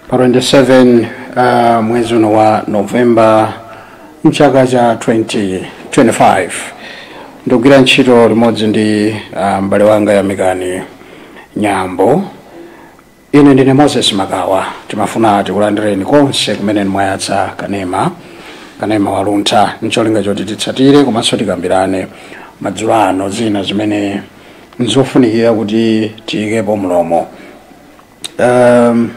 pa 27 uh, mwezi uno wa novemba mchaka cha 2025 ndikugwira ntchito limodzi ndi uh, m'bale wanga yamikani nyambo ine ndine moses makawa timafuna tikulandireni konse kumene mwayatsa kanema kanema waluntha ncholinga choti titsatire komanso tikambirane madzulo ano zina zimene nzofunikira kuti tiyikepo mlomo Um,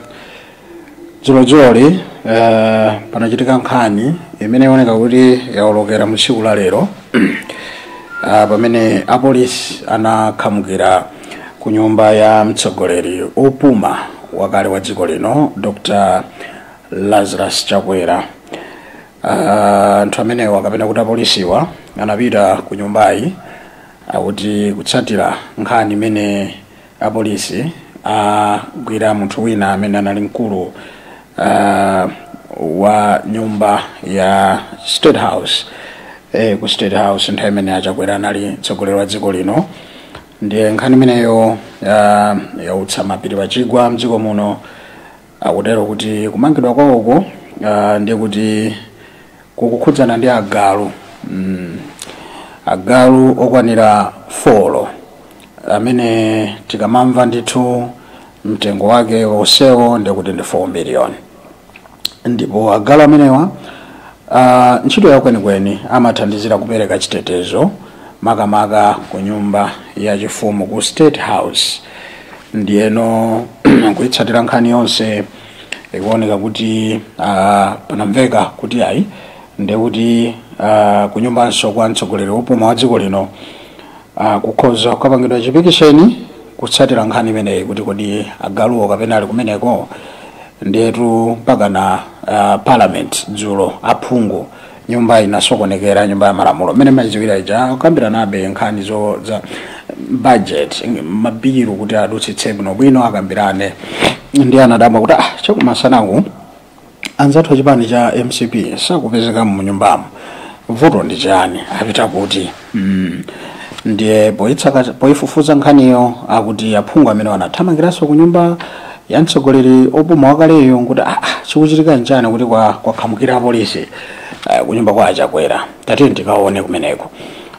dzulodzuloli uh, panachitika nkhani imene ikuoneka kuti yaolokera mu tsiku la lero uh, pamene apolisi anakhamukira ku nyumba ya mtsogoleri opuma wakale wa dziko lino dr lazarus chakwera Ah, anthu amenewa kapena kuti apolisiwa anapita ku nyumbayi akuti kutsatira nkhani imene Apolisi agwira munthu wina amene anali mkulu ah, wa nyumba ya State House eh, ku State House nthawi imene achakwera anali mtsogoleri wa dziko lino ndiye nkhani imeneyo ah, yautsa mapiri pachigwa mdziko muno Akutero kuti kumangidwa kwawoko uh, ndiye kuti kukukhudzana ndi agalu mm. agalu okwanira folo amene tikamamva ndithu mtengo wake onsewo ndiye kuti ndi 4 miliyoni ndipo agalu amenewa uh, ntchito yawo kwenikweni amathandizira kupereka chitetezo makamaka ku nyumba ya chifumu ku state house ndiyeno kuitsatira nkhani yonse ikuoneka kuti uh, panamveka kuti ayi ndekuti uh, kunyumbanso kwa mtsogoleri wopuma wa dziko lino uh, kukhoza kukapangidwa chipikisheni kutsatira nkhani imeneyi kuti kodi agaluwo kapena ali kumeneko ndiyetu mpakana uh, parliament dzulo aphungu nyumba inasokonekera nyumba ya malamulo mmene mayiziwira ija akukambiranabe nkhani zo za budget mabilu kuti adutsitse bwinobwino akambirane ndiye anadabwa kuti ah chakumasanaku anzathu achipani cha mcp sakupezeka mu nyumbamo vuto ndi chani apita kuti ndiye poyitsaka poyifufuza nkhaniyo akuti aphungu amenewo anathamangiranso ku nyumba ya mtsogoleri opuma wakaleyo kuti ah, ah, chikuchitika nchani kuti kwa- kwakhamukira apolisi eh, ku nyumba kwa achakwera tatiyeni tikaone kumeneko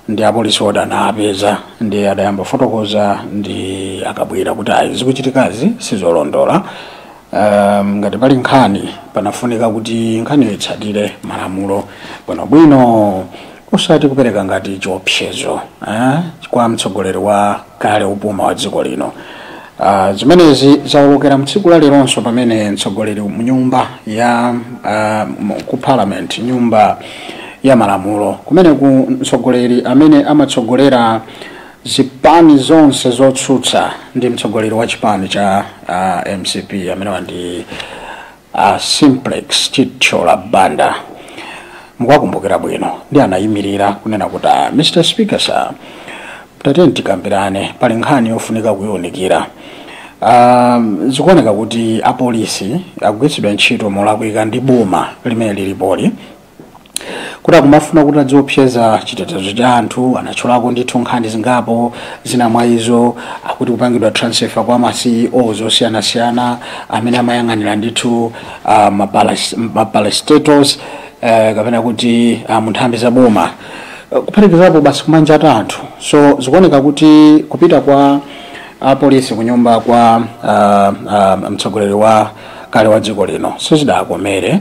ndi apolisiwo atawapeza ndiye adayamba fotokoza ndi a kabwila kuti ayi zikuchitikazi sizolondola um, ngati pali nkhani panafunika kuti nkhaniyo itsatire malamulo bwinobwino osati kupereka ngati chiopsezo eh, kwa mtsogoleri wa kale opuma wa dziko lino uh, zimenezi zaolokera mtsiku la leronso pamene mtsogoleri mnyumba ya uh, ku parliament nyumba ya malamulo kumeneku mtsogoleri amene amatsogolera zipani zonse zotsutsa ndi mtsogoleri wa chipani cha uh, mcp amenewa ndi a simplex chithyola banda mukukumbukira bwino ndi anayimirira kunena kuti "Ah, mr speaker sir tatiyeni tikambirane pali nkhani yofunika kuyiwunikira um, zikuoneka kuti apolisi akugwiritsidwa ntchito molakwika ndi boma limene lilipoli kuti akumafuna kuti adziopseza chitetezo cha anthu anatchulako ndithu nkhani zingapo zina mwa izo akuti kupangidwa transfer kwa ma ceo osiyanasiyana amene amayang'anira ndithu uh, ma parastatals uh, kapena kuti uh, munthambi za boma uh, kuphatikizapo basi kumanga anthu so zikuoneka kuti kupita kwa apolisi kunyumba kwa uh, uh, mtsogoleri wa kale wa dziko lino sizidakomere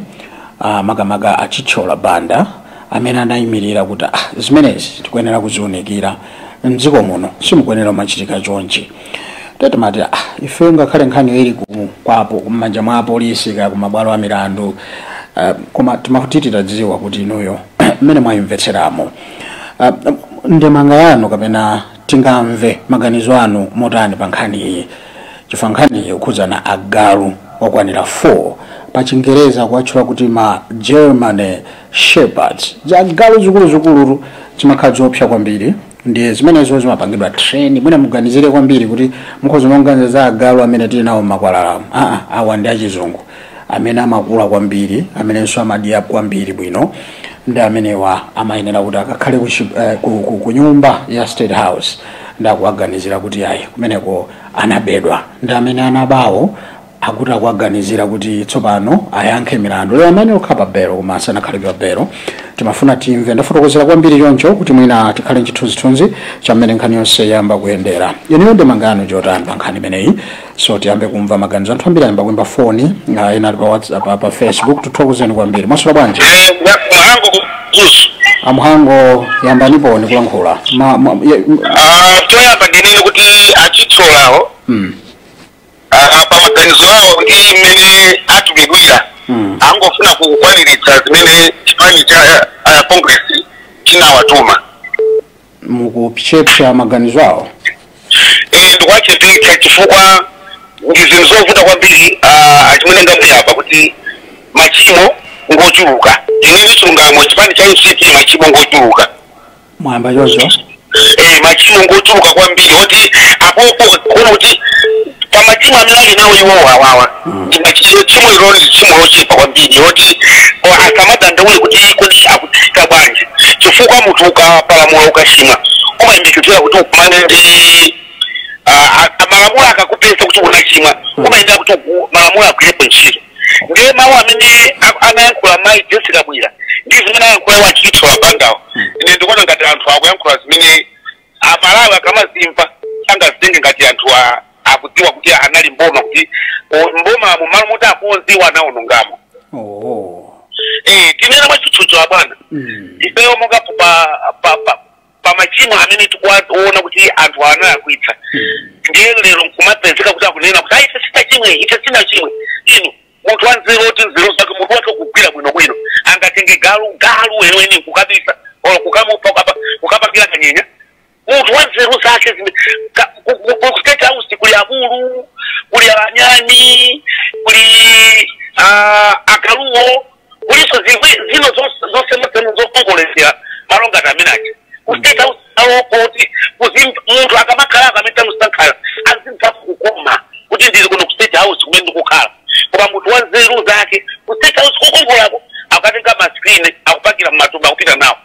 ah, makamaka a chithyola banda amene anayimirira kuti ah, zimenezi tikuyenera kuziunikira mdziko muno simukuyenera kumachitika chonchi te timati ah, ife ngakhale nkhaniyo ili ku- kwapo mmanja mwa apolisi kaya kumabwalo a milandu ah, koma timati titadziwa kuti inuyo mmene mwayimvetseramo Ah, ndemanga yanu kapena tingamve maganizo anu motani pa nkhani iyi chifukwa nkhani iyi ikukhudzana agalu okwanira 4 pa chingereza kuwatchula kuti ma german shepherds ziagalu zikuluzikulu zimakhala zoopsa kwambiri ndiye zimenezo zimapangidwa train mwina muganizire kwambiri kuti mukhoza kumaganiza za agalu amene tili nawo m'makwalalamu aa awa ndi achizungu amene amakula kwambiri amenenso amadya kwambiri bwino ndi amenewa amayenera kuti akakhale kuchi- eh, ku- ku- ku nyumba ya state house ndi akuwaganizira kuti ayi kumeneko anabedwa ndi amene anabawo akuti akuwaganizira kuti tsopano ayankhe milandu lero amene akhala pa belo koma asanakhale pa belo timafuna timve ndafotokozera kwambiri choncho kuti mwina tikhale nchithunzithunzi cha mmene nkhani yonse yayamba kuyendera inuyo ndemanga yanu njotani pa nkhani imeneyi so tiyambe kumva maganizo anthu ambiri ayamba kuimba foni ah, ena ali pa whatsapp ah, pa facebook tithokoze kwambiri mwaswera bwanji mhango ku mzuzu amhango yambaniponi kulankhula Ma- ma- ye- m- choyamba ndinene kuti a chithyolawo mm, ah, pa maganizo awo ndi mmene atumidwira Mm. angofuna kukwaniritsa zimene chipani cha ah, congress chinawatuma mukuchepsa maganizo awo Eh, ndikuwachepetsa chifukwa ndi zinthu zovuta kwambiri ah, achimwene ndamuyapa kuti machimo ngochuluka ndinene chilungamo chipani cha mcp machimo ngochuluka mwayamba choncho eh, machimo ngochuluka kwambiri oti apopo kuona kuti pa machimo amene ali nawo iwowo awawa Ndi machimo ilo ndi tchimo lochepa kwambiri loti asamadandaule kuti kodi akutisaka bwanji chifukwa munthu ukapalamula ukachimwa umayembekezera kuti ukumane ndi ah, ah, malamulo akakupeza kuti unachimwa umayenera kuti uku- malamulo agwirepo ntchito ndiye mawu amene a- anayankhula mayi jessie kabwila ndi zimene ayankhula iwo achithyola bandawo ine ndikuona ngati anthu akuyankhula zimene amalawi akamazimva sangazitenge ngati anthu a- akudziwa kuti anali mboma kuti o- mbomamo malo moti akonze iwo anaonongamo oh Eh, tinene mwachitsanzo abwana mm. ifeyo monga pa pa pa pa machimo amene tikuwaona kuti anthu analakwitsa ndiye lero nkumapezeka kuti akunena kuti ayi ife sitinachimwe ife sitinachimwe inu munthu wanzeru oti nzeru zake mutu wake ukugwira bwinobwino angatenge galu galu weniweni kukabisa or kukamupha kukapa- kukapangira kanyenya munthu wanzeru zake zine- ka- ku- ku- ku state house kuli abulu kuli anyani kuli ah, agaluwo kulinso zimwe zino zose- zosemasema zokongoletsera malo ngati amene aja ku state house awo kuti kuzi munthu akamakhala amene tamusankha azimva kukoma kuti ndili kuno ku state house kumene ndikukhala koma munthu wa nzeru zake ku state house kukongolako akatenga maskrini akupakira mmatumba akupita nawo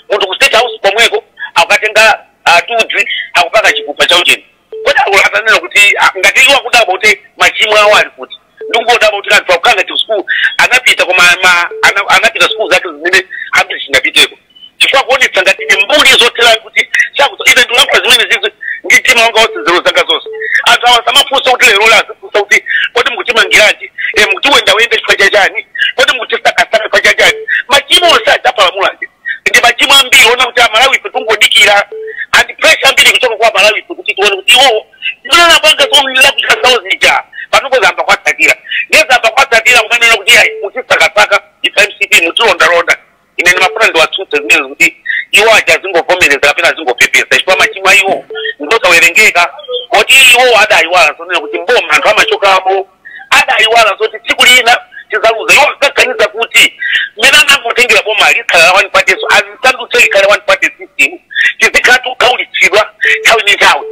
munthu ku state house komweko akatenga ah, tudzi akupaka chikupa cha ujeni Kodi akulu atanena kuti ah, ngati iwo akudabwa kuti machimo awo ali kuti ndikungodabwa kuti anthu akukhala ngati sukulu anapita koma ma- ana- anapita sukulu zake zimene ambiri sitinapiteko chifukwa akuonetsa ngati ndi mbuli zothera kuti sakuti ine ndikulankhula zimene zizi ndi mtima wanga wonse nzeru zanga zonse anthu awa samafunsa kuti lero la azifunsa kuti kodi mukutimangiranji e mukutiwendawenda chifukwa cha chani kodi mukutisakasaka chifukwa cha chani machimo onse adapalamula aja ndi machimo ambiri ona kuti amalawife tungodikira and pressure yambiri kuchoka kwa amalawife kuti tione kuti iwowo zimene anapanga zomlira kuchita zawo zija panopo zayamba kuwatsatira ndiye zayamba kuwatsatira kumanena kuti ayi mutisakasaka ife mcp mutilondalonda ine ndimafuna ndiwatsutse zimene kuti iwo aja azingovomereza kapena azingopepesa chifukwa machimo a iwo ngosawerengeka kuti iwo adayiwala zonena kuti mboma anthu amachokamo adayiwala zoti tsiku lina tidzaluza iwo ankaganiza kuti mmene anangotengera boma likhala la one party so adzisandutse likhale one party system tizikhala tikukhaulitsidwa nthawi ndi nthawi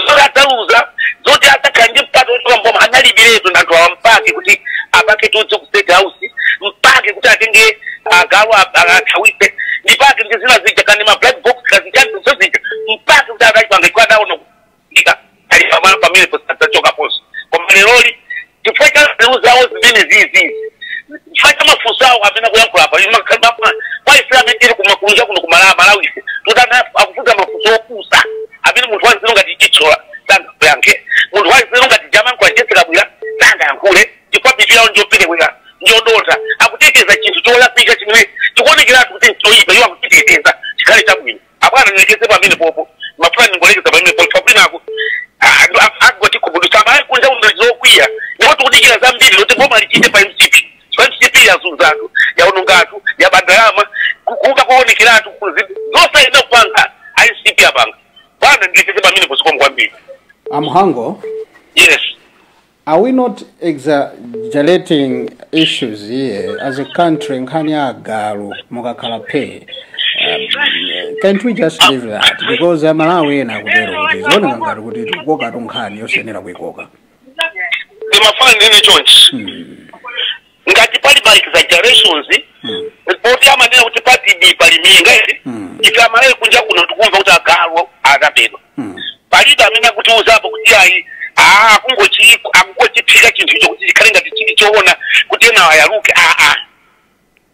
zoti adzaluza zoti adzakhala ndi mpata wochoka mboma analibiretu anthu awa mpake kuti apake tudzi ku state house mpake kuti atenge agalu athawise mpake ndi zina zija kani ma black box kaya zichani zozija mpake kuti akachipanga chifukwa adaona ika ali pamalo pamene posadzachokanso koma leroli chifukwa cha nzeru zawo zimene zizi chifukwa cha mafunso awo amene akuyankhula apa kwaifuna amene tili kumakunja kuno ku malawi ife tutana akufunsa mafunso opusa amene munthu wanzeru ngati chitsola sangayankhe munthu wanzeru ngati jaman kwa jessie kabwila sangayankhule chifukwa mitu yawo njoperewera njodotha akuteteza chinthu cholakwika chimene chikuonekeratu kuti nchoyipa iwo akuchiteteza chikhale chabwino abwana nilekeze pamenepopo mafuna ningolekeza pamenepopo kwinako agoti kubudusa amai kunja kuno okwiya ndipo tikudikira zambiri zoti boma lichite pa mcp pa mcp yazunza anthu yaononga anthu yaba ndalama kuba kuonekeratu zonse inakupanga mcp apanga bwana nilekeze pamenepo zikomo kwambiri amhango yes Are we not exaggerating issues here as a country nkhani ya agalu mukakhala phee Um, can't we just leave that because amalawi ena akutero kuti zikuoneka ngati kuti tikukokatu nkhani yosayenera kuikoka ndimafuna ndinene chonchi ngati pali ma exaggerations Mm. poti amanena kuti pati bii pali minga eti Mm. ife amalawi kunja kuno tikumva kuti agalu adabedwa Mm. palibe amene akutiuzapo kuti ayi aa kungochi- akungochiphika chinthu icho kuti chikhale ngati chili choona kuti ena ayaluke aa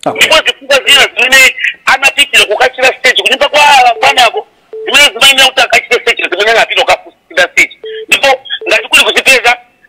Okay. ndipo zifukwa zina zimene anapitira kukachira stage kunyumba kwa bwanako zimene zimayenera kuti akachire stage zimene anapita kukafunsira stage ndipo ngati kuli kuzipeza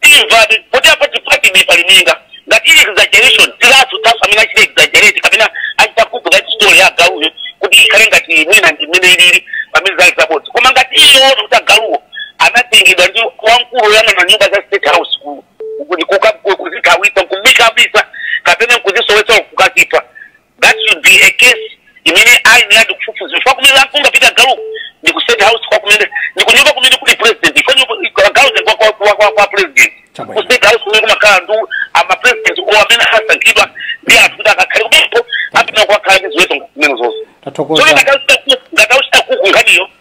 timva poti apa pati bii pali minga ngati ili exaggeration tidziwatu naso amene achita exaggerate kapena achita kuphika story ya agaluyo kuti ikhale ngati mwina ndi mmene ilili pamene zali zabodza koma ngati ili yoona kuti agaluwo anatengedwa ndi wamkulu woyang'ana nyumba za state house ku- ku- kuka- ku- kuzithawitsa nkuzikabisa kapena nkuzisowetsa kukazipha that should be a case imene ayeneradi kufufuza chifukwa kumene angabe galuko ndi ku state house kwa kumene ndi kunyumba kumene kuli president chifukwa nyumba- galuku ndi kwa- kwa- kwa- kwa- kwa president Chabwino. ku state house kumene kumakhala anthu amapresident amene asankhidwa ndi anthu kuti akakhale kumepo apita kukakhala ndi ziweto kumene zonse so ngati akuchita cook nkhaniyo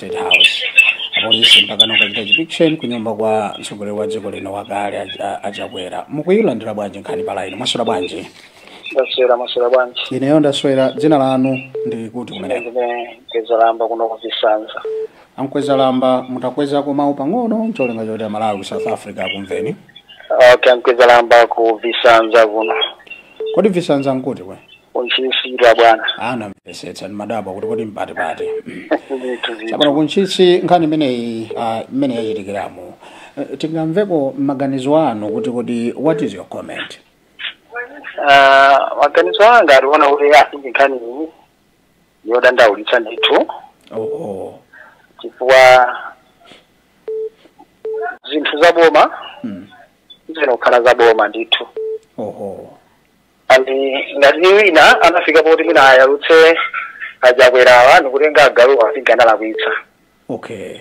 State House. Apolisi mpaka kukachita chipikisheni ku nyumba kwa mtsogoleri wa dziko lino wakale a- a- achakwera mukuyilandira bwanji nkhani pa laini mwaswera bwanji ndaswera maswera bwanji ineyo ndaswera dzina lanu ndi kuti kumeneko ndine Mkwezalamba kuno ku Visanza a Mkwezalamba mutakwezako mawu pang'ono ncholinga choti amalawi ku south africa akumveni okay Mkwezalamba ku Visanza kuno kodi visanza nkuti kwe ku Ntchisi bwana Ah, ndamvetsetsa ndimadabwa kuti kodi mpati pati. Chabwino ku Ntchisi nkhani imeneyi ah, imene yachitikiramo. Eh, Tingamveko maganizo anu kuti kodi what is your comment? Ah, maganizo anga akuona kuti asinji nkhani ndi yodandaulitsa ndithu Oh, oh. chifukwa zinthu za boma Mm. zino kukhala za boma ndithu Oh, oh. and ngati ni wina anafika poti mwina ayalutse achakwerawa nikutenga agalu asinga analakwitsa okay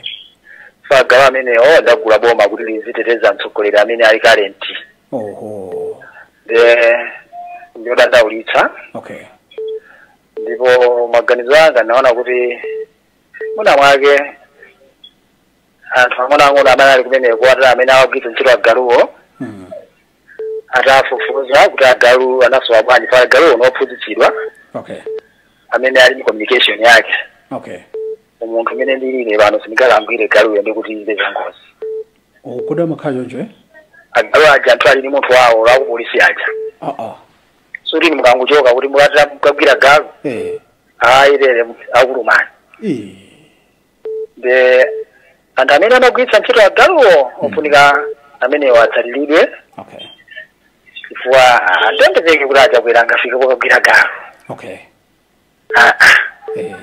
so agalu amenewo adagula boma kuti liziteteza mtsogoleri amene ali kalenti oho nde ndiyodandaulitsa okay ndipo maganizo anga ndaona kuti mwina mwake anthu ang'onoang'ono amene ali kumeneko aja amene awagwiritsa ntchito agaluwo mm. atafufuza kuti agalu anasowa bwanji paja agaluwo ndi ophunzitsidwa okay amene ali ndi communication yake okay munthu mmene ndilili pano sindingakamugwire galuyo ndi kuti izo zangozi O, kodi amakhala choncho eh agalu aja anthu ali ndi munthu wawo a kupolisi aja ah ah sikuti mukangochoka kuti mukati mukagwira galu eh ayi tere akulumani eh ndi anthu amene amagwiritsa ntchito agaluwo ofunika amenewo atsatiridwe okay chifukwa sizingatheke kuti achakwera angafike kokagwira galu okay Ah, ah. eh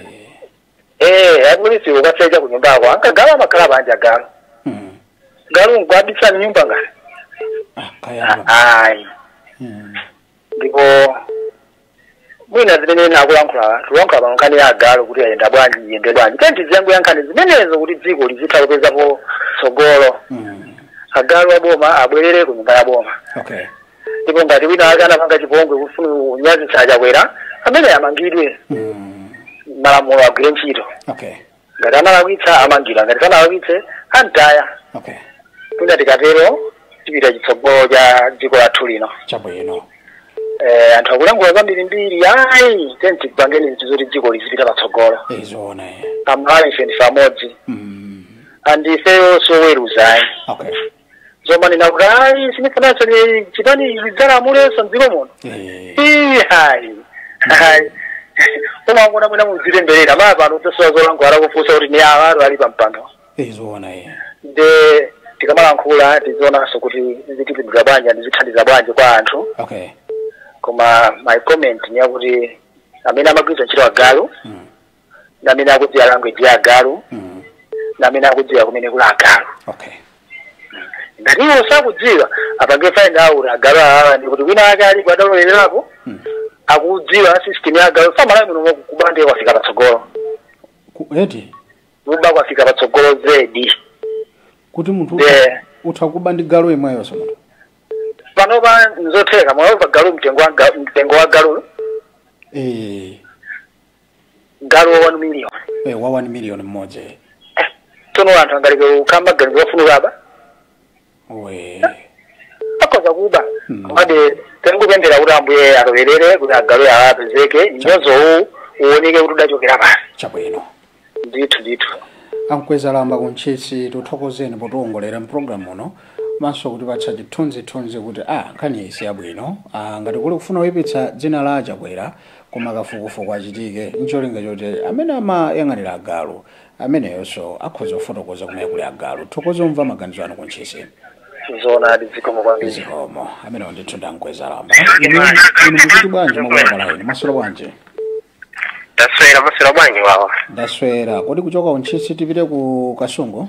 eh apolisi akasecha ku nyumba yawo nanga galu amakhala panja galu mm. galu ngobisa mnyumba ngati ah kaya ayi mm. ndipo mwina zimene ndikulankhula tikulankhula pa nkhani ya agalu kuti ayenda bwanji iyende bwanji tiyeni tiziyankhula nkhani zimenezo kuti dziko lizitha kupezapo tsogolo Mm. agalu aboma abwerere ku nyumba ya boma Okay. ndipo ngati wina ake anapanga chipongwe kufuna kunyazitsa achakwera ameneyo amangidwe Mm. malamulo agwire ntchito Okay. ngati analakwitsa amangidwa ngati sanalakwitse amtaya okay kuti tikatero tipita kutsogolo cha dziko lathu lino chabwino eh, anthu akulankhula zambirimbiri ayi tiyeni tipangeni zinthu zoti dziko lizipita patsogolo nzoona eh. amalawi ife ndife amodzi mm. and ife sioweruza ayi okay zomanena kuti ayi sinifunanso chipani zidzalamulenso mdziko muno Eh, Ii, hayi hayi umangona mwina muzitemberera mawa pano muzasowa zolankhula akakufunsa kuti ni awa ali pampando eh, zoona eh. nde tikamalankhula tizionanso kuti zitipindula bwanji ndi zithandiza bwanji kwa anthu okay koma my comment ni yakuti amene amagwiritsa ntchito agalu Mm. ndamene akudziwa language ya agalu mm. ndamene akudziwa kumene kuli agalu okay ngati iwo sakudziwa apange find out agalu awa ndi kuti wina wake alipo adalowelerapo mm. akudziwa system ya agalu pamalawi muno kuba ndiye kwafika patsogolo Ku- eti kuba kwafika patsogolo zedi kuti munthu utha- Yeah. utha kuba ndi galu imweyo so munthu panopa nzotheka mwaona galu mtengo wa ga- mtengo wa galu eh galu wa 1 million eh, wa 1 million mmodzi eh. tsono anthu angaleke kukhala maganizo ofuna kuba we akhoza kuba Mm. komabe tingopemphera kuti ambuye alowerere kuti agalu awa apezeke mnyozo uwu uwoneke kuti udachokera pati chabwino ndithu ndithu a Mkwezalamba ku Ntchisi tithokozeni potiwongolera mpulogalamu uno komanso kutipatsa chithunzithunzi kuti a nkhaniyi si yabwino Ah, ngati kuli kufuna kuipitsa dzina la a Chakwera koma kafukufuku achitike ncholinga choti amene amayang'anira agalu ameneyonso akhoza kufotokoza kumene kuli agalu tithokoze tamva maganizo anu ku Ntchisi zoonadi zikomo kwambiri zikomo amenewo ndithu ndi a Mkwezalamba inu inu mukuti bwanji mwakuwakala inu mwaswera bwanji taswera mwaswera bwanji wawa ndaswera kodi kuchoka ku Ntchisi tipite ku Kasungu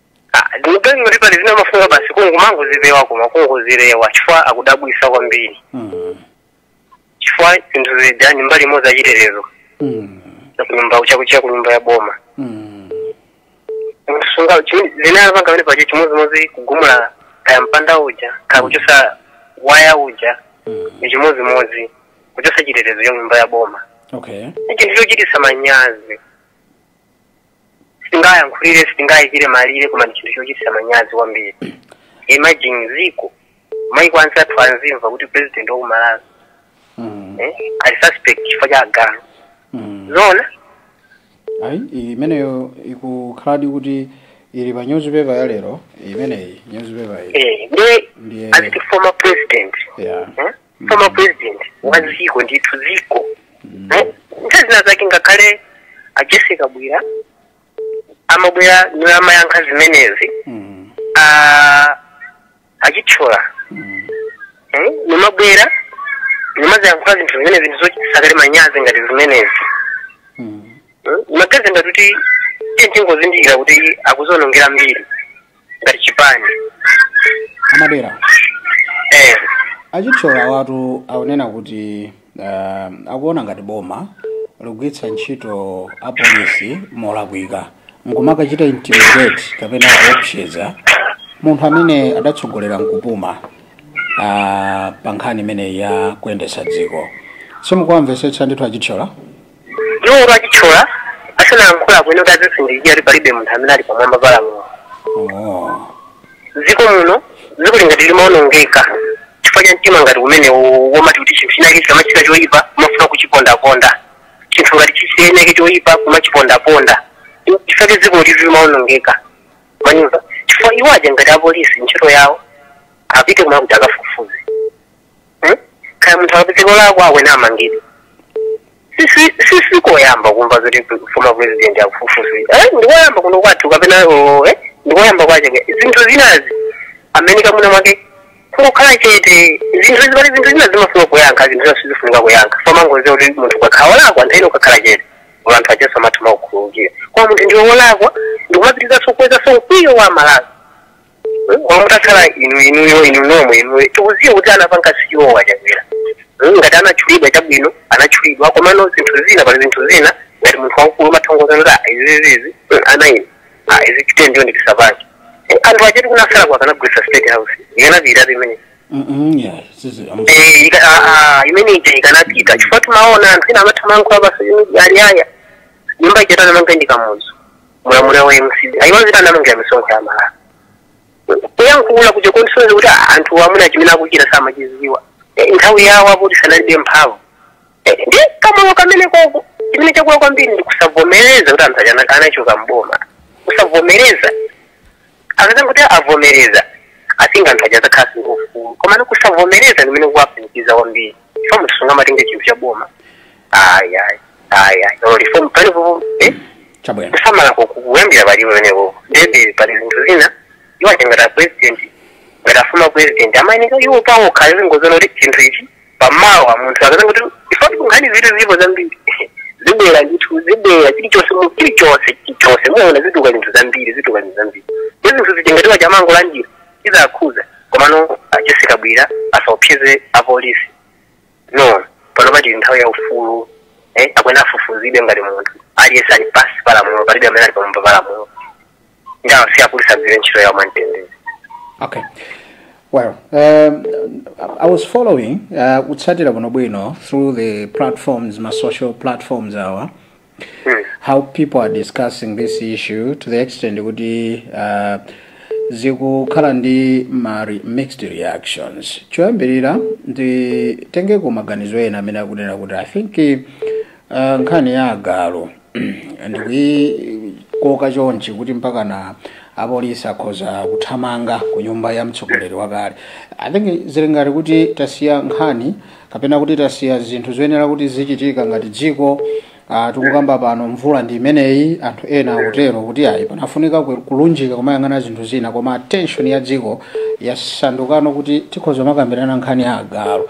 Ah, ndikuganiza kuti pali zina timafuna basi kungumangozipewa koma kungozipewa chifukwa akudabwisa kwambiri Mm. chifukwa zinthu zidani mbali imodzi achitetezo Mm. nakunyumba chakuchia kunyumba ya boma Mm. zomwe zinapanganamo apa chimodzimodzi kugumula kaya mpanda uja kaya kuchosa waya uja ni chimodzimodzi kuchosa chitetezo cha nyumba ya boma Okay. ni chinthu chochitisa manyazi sitingayankhulire sitingayikire malire koma ndi chinthu chochititsa manyazi kwambiri imagine ziko maiko anzathu azimva kuti president wa ku Malawi Mm. eh, ali suspect chifukwa cha agalu Mm. zona ayi iyi imeneyo ikukhaladi kuti ili pa newspaper ya lero imeneyi newspaper iyi eh, ndiye ndiye as the former president ya eh, former president wa dziko ndithu dziko Eh, nthawi zina zake ngakhale a Jessie Kabwila amabwera niamayankha zimenezi Mm. ah, a Chithyola Mm. Eh, nimabwera nimaziyankhula zinthu zimenezi zinthu zochitisakale manyazi ngati zimenezi Mm. amaganiza ngati kuti ife tingozindikira kuti akuzionongera mbiri ngati chipani amadera eh achithyola awatu akunena kuti uh, akuona ngati boma likugwiritsa ntchito apolisi molakwika nkumakachita intimidate kapena kuopseza munthu amene adatsogolera nkupuma uh, pa nkhani imeneyi ya kuyendetsa dziko simukuwamvetsetsa ndithu achithyola Iwo kuti achithyola asanayankhula bwino kuti azizindikira kuti palibe munthu amene ali pamwamba pa lamulo. Oh. Dziko muno dzikoli ngati limaonongeka chifukwa cha mtima ngati umenewo womati kuti chinthu chinake chikamachita choyipa kumafuna kuchipondaponda chinthu ngati chisaoneke choyipa kumachipondaponda chifukwa chake dzikoli limaonongeka mwandimva chifukwa iwo aja ngati apolisi ntchito yawo apite kumene kuti akafufuze Hmm? kaya munthu akapezeka olakwa akuyenera amangidwe Sisi- sisi koyamba kumva zoti former president akufufuzidwa eh ndikoyamba kuno kwathu kapena oh, eh ndikoyamba kwache ke. zinthu zinazi amayeneka mwina mwake kungokhala chete zinthu zi- pali zinthu zina zimafuna kuyankha zinthu zina sizifunika kuyankha somangoziwa kuti munthu ukakhala wolakwa nthawi zina ukakhala chete Olo anthu ajanso amatha kumakukhululukira koma munthu ndiwe wolakwa ndikumapitizanso kukwezanso mkwiyo wa amalawi koma mutakhala inu inuyo inu nomwe inuyo tikuziwa kuti anapanga siwo achakwera Mm, ngati anatchulidwa chabwino anatchulidwa komano zinthu zina pali zinthu zina ngati munthu wamkulu umatha kungoziwa kuti "Ah, izi izi izi mm, ana ine Ah, izi chite ndiyo ndikisapange Eh, anthu ajatu kunasala kwa akanagulisa state house ikanapitatu imene Mm-mm, yeah, sisi- am- Eh, ika- ah, ah, imene ija ikanapita chifukwa timaona anthu ena amatha kumayankhula pasayunidi ali ayi nyumba ija ati anamanga ndi kamuzu mu ulamuliro wa mcp ayiwa zita analongira misonkho ya amalawi kuyankhula kuja kungosonyeza kuti ah, anthu amenewa chimene akuchita samachiziwa Eh, nthawi yawo akuti sanalibe mphamvu Eh, ndi kamoyo kamenekoko chimene chakula kwambiri ndi kusavomereza kuti anthu aja anachoka mboma kusavomereza akazangoti avomereza atinga anthu aja azakhala ndi ufulu komano kusavomereza ndimene kukuwapanikiza kwambiri chifukwa munthu sungamatenge chinthu cha boma ayi ayi ayi ayi olo reform palipo eh? chabwino kusamala kuyambira pali pamenepo ndiyebe pali zinthu zina iwo aja ngati apresident ngati a former president amayeneka iwo pawokha angoziona kuti chinthu ichi pamawa munthu akazanga kuti chifukwa kuti nkhanizitu zilipo zambiri zibwera ndithu zibwera chilichonse mu- chilichonse chilichonse muona zituluka zinthu zambiri zituluka zinthu zambiri ndi zinthu zichengetiwa chamango la njira izakhuza komano ajessie kabwila asaopseze apolisi no pano pati nthawi ya ufulu eh, akuyenera afufuzidwe ngati munthu aliyense ali pansi palamulo palibe amene ali pamwamba palamulo ndi apolisi agwire ntchito yawo mwamtendere Okay. Well, um, I was following uh, kutsatira bwino bwino through the platforms, ma social platforms awa, how people are discussing this issue to the extent kuti uh, zikukhala ndi ma re- mixed reactions. Choyambirira nditengeko maganizo ena amene akunena kuti I think uh, nkhani ya agalu ndikuyikoka chonchi kuti mpakana apolisi akhoza kuthamanga ku nyumba ya mtsogoleri wakale i think zili ngati kuti tasiya nkhani kapena kuti tasiya zinthu zoyenera kuti zichitika ngati dziko uh, tikukamba pano mvula ndi imeneyi anthu ena akutero kuti ayi panafunika ku- kulunjika kumayang'ana zinthu zina koma attention ya dziko yasandukano kuti tikhoza kumakambirana nkhani ya agalu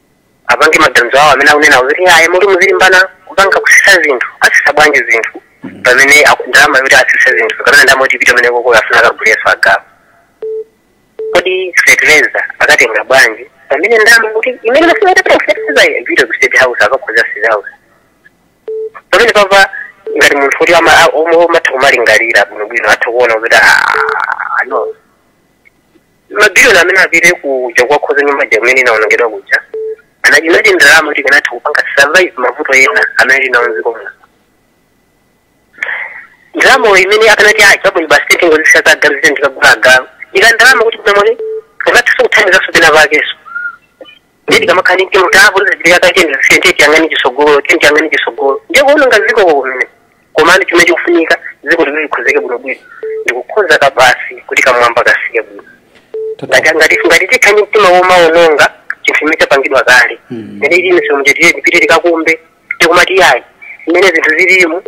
apange maganizo awo amene akunena kuti ayi muti muzilimbana kupanga kusisa zinthu asisa bwanji zinthu pamene aku- ndalama yoti asise zinthu kapena ndalama yoti ipite kumeneko koko afuna akaguleso agalu kodi fertilizer akatenga bwanji pamene ndalama kuti imene amafuna itapita kufertilizer ipite ku state house akakhoza state house pamene papa ngati munthu woti ama- a- omwe omatha kumalingalira bwinobwino atha kuona kuti "Ah, no mabiliyoni amene apite kuja kukakhonza nyumba ija imene inaonongedwa kuja aja inali ndalama yoti ikanatha kupanga solve mavuto ena amene tinawo mdziko muno ndalamayo imene akanati chabwino basi titenge izi za agalu zite ndikagula agalu ika ndalama kuti kunamone ikanathaso kuthandizanso pena pakeso ndiye tikamakhala ndi mtima kuti apo zachitika kale tizisiye ndiye tiyang'ane chisogolo tiye tiyang'ane chisogolo ndiye kuononga dzikoko kumene komano chimene chikufunika dziko likuti likhonzeke bwinobwino ndikukhonza ka basi kuti kamwamba kasike bwino ngati ngati ngati tikhala ndi mtima womaononga chinthu chimene chapangidwa kale Mm. ngati ili misewu tiye tipite tikakumbe tikumati yayi mmene zinthu zililimu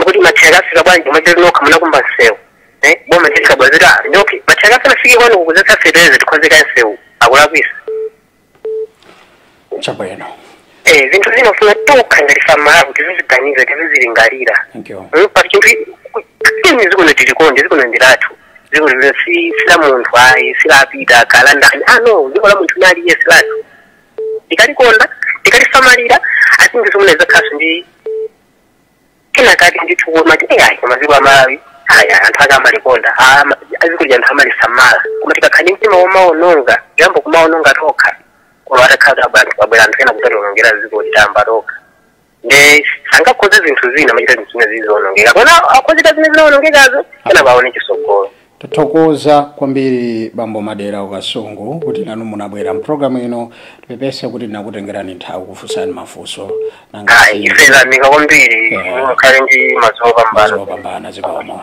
kuti ma truck afika bwanji kumachita nokha munakumba msewu eh, boma ndilikabwazira ndi okay ma truck asanafike kwanu kukuzetsa fetereza tikhonze kaye msewu akulakwisa chabwino eh, zinthu zina zofuna tokha ngati ife amalawi tiziziganiza tizizilingalira thank you Mm, pa chinthu china dziko lino tilikonde dziko lino ndi lathu dziko lino si si la munthu ayi si la a Peter kaya ndani ah no dziko la munthu nali yes lathu tikalikonda tikalisamalira ati ndi zomwe zakhalaso ndi kenakati ndi kuona kuti ayi koma dziko la malawi aya anthu ake amalikonda ama- dziko lija anthu amalisamala koma tikakhala ndi mtima womaononga kuyamba kumaononga tokha koma atakhala abanthu abwera anthu ena kudzatiwonongera dziko titayamba tokha nde sangakhonze zinthu zina amachita zinthu zina zizionongeka koma akhonze zimene zinaonongekazo kapena paone chisogolo tathokoza kwambiri bambo madera ku kasungu kuti nanu munabwera mpulogalamu ino tipepese kuti ndinakutengerani nthawi kufunsani mafunso nanga ayi ife tayamika kwambiri Yeah. mukhale ndi madzulo opambana zopambana zikomo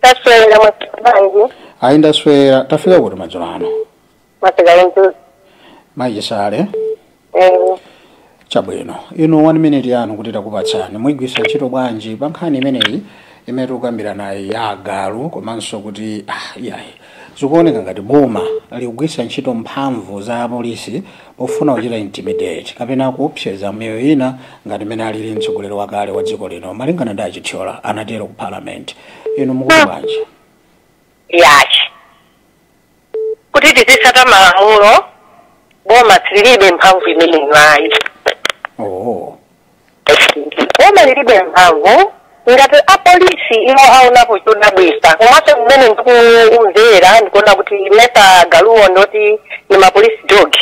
taswera bwanji ayi ndaswera tafika kuti madzulo ano mwasigale mtuzi maichisale chabwino inu 1 minute yanu kuti takupatsani muigwiritsa ntchito bwanji pa nkhani imeneyi imene tikukambiranayi ya agalu komanso kuti ah, iyayi zikuoneka ngati boma likugwiritsa ntchito mphamvu za apolisi pofuna kuchita intimidate kapena kuopseza miyoyo ina ngati mmene alili mtsogoleri wakale wa dziko lino malingana ndi achithyola anatero ku parliament inu mukuti bwanji ya chikhala kuti tizitsata malamulo boma silili ndi mphamvu imeneyo ayi oh. boma lilibe mphamvu ngati apolisi iwo aonapo chodabwitsa komanso mmene ndikumvera ndikuona kuti mesa agaluwo ndi oti ni ma police dog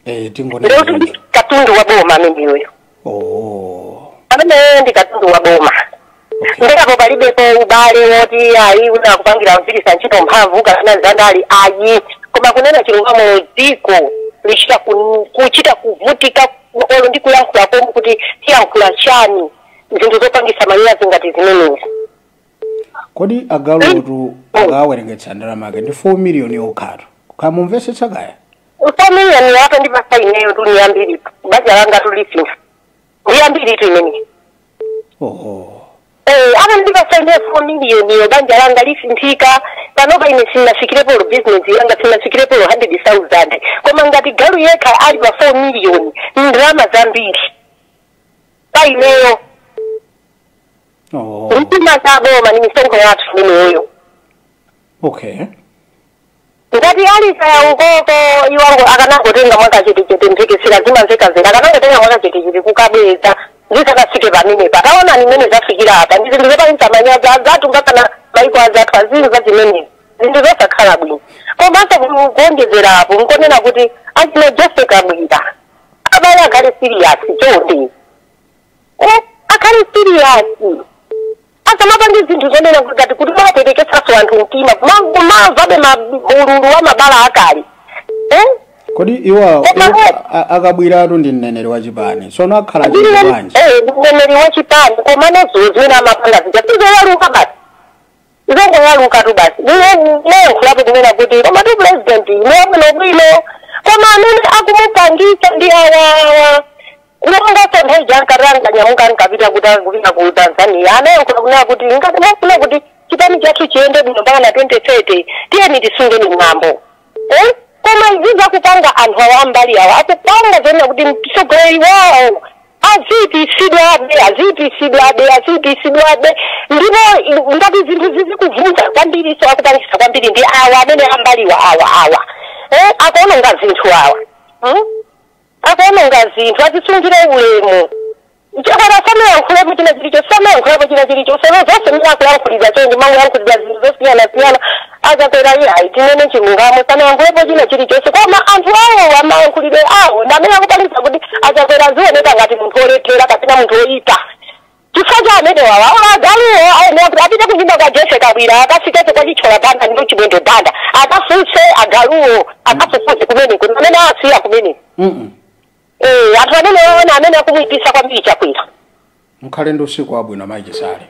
eh tingonena kuti ndi katundu wa boma ameneyoyo oh ameneyoyo ndi katundu wa boma Okay. ndiye apo palibepo ubale woti ayi wina akupangira kugwiritsa ntchito mphamvu kapena zandale ayi koma kunena chilungamo dziko lichita ku- kuchita kuvutika olo ndi kuyankhula komwe kuti tiyankhula chani zinthu zopangitsa manyazi ngati zimenezi kodi agaluwotu akawerengetsa ndalama yake ndi 4 miliyoni yokhatu mukumvetsetsa kaya 4 miliyoni atandipatsa ineyo tu ndi yambiri banja langa tu lisintha ndi yambiritu imeneyi oho Eh, atandipatsa ineyo four miliyoniyo banja langa lisinthika panopa ine sinafikirepo olo bizinesi yanga sinafikirepo olo hundred thousand koma ngati galu yekha ali pa four miliyoni ndalama zambiri imeneyo oho ndalama zaboma ni misonkho yathu imeneyoyo okay Ngati ali kaya ukoko iwowo akanangotenga mwakachetechete mphekesera zimamveka kale akanangotenga mwakachetechete kukabweza zisanafike pamenepa taonani mmene zafikira apa ndi zinthu zopangitsa manyazi azathu mpakana maiko azathu anzathu amva zimenezi zinthu zosakhala bwino komanso ku- kuonjezera apo nkonena kuti achina joseph kabwira abale akhale serious chonde eh, akhale siriyasi asamapange zinthu zonena kuti ngati kuti akupwetekesanso anthu mtima kuma- kumamvabe ululu wa mabala akale eh? kodi iwa Koma- iwa- a- akabwiratu ndi mneneri wa chipani sono akhala chete bwanji mneneri wa chipani koma nazo zimene amapanga zija sizoyaluka basi zongoyaluka tu basi anayankhulapo kunena kuti koma tu president yu ali bwinobwino koma amene akumupangitsa ndi awawa olonso nthawi ija akanyamuka ankapita kuti akupita ku tanzania anayankhula kunena kuti ngati mwafuna kuti chipani chathu chiyende bwino mpaka na 2030 tiyeni tisungeni mwambo Eh? koma izi zakupanga anthu awa am'mbali awa akupanga zonena kuti mtsogoleri wawo aziipitsidwabe aziipitsidwabe aziipitsidwabe ndipo i- ngati zinthu zizikuvuta kwambiri so akupangisa kwambiri ndi awa amene am'mbaliwa awa awa eh? akuononga zinthu awa hmm? akuononga zinthu azisungire ulemu Chakwera sanayankhulepo china chilichonse sanayankhulepo china chilichonse no zonse mene akuyankhulira chonchi akuyankhulira zinthu zosiyana siyana a Chakwera iye ayi tinene chilungamo sanayankhulepo china chilichonse koma anthu awo mayankhulidwe awo ndi amene akupangitsa kuti a Chakwera azioneka ngati munthu olephera kapena munthu oyipa chifukwa cha amenewawa agaluwo ayenera kuti apite kunyumba kwa Jessie Kabwila akafikepo kwa Chithyola Banda ndi Chimwendo Banda akafunse agaluwo akafufuze kumeneko ndi amene asiya kumeneko Mm-mm. Eh, anthu amenewawa ndi amene akumuipitsa kwambiri chakwera mukhale ndi usiku wabwino mayi chisale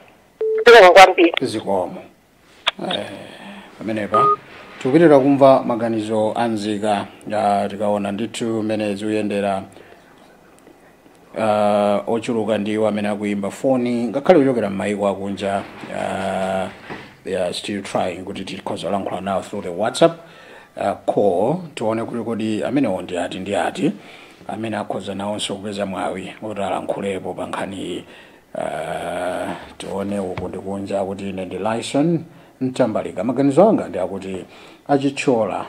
zikomo kwambiri zikomo Eh, pamenepa tikupitiriza kumva maganizo a nzika ah, tikaona ndithu mmene zikuyendera ah, ochuluka ndiwo amene akuyimba foni ngakhale kuchokera m'mayiko akunja ah, they are still trying kuti tikhoza kulankhula nawo through the whatsapp call. Tione kuti kodi amenewo ndi ati ndi ati amene akhoza nawonso kupeza mwawi woti alankhulepo pa nkhaniyi. Ah, tione uku ndi kunja akuti ine ndi Lyson Mtambalika. Maganizo anga ndi akuti a Chithyola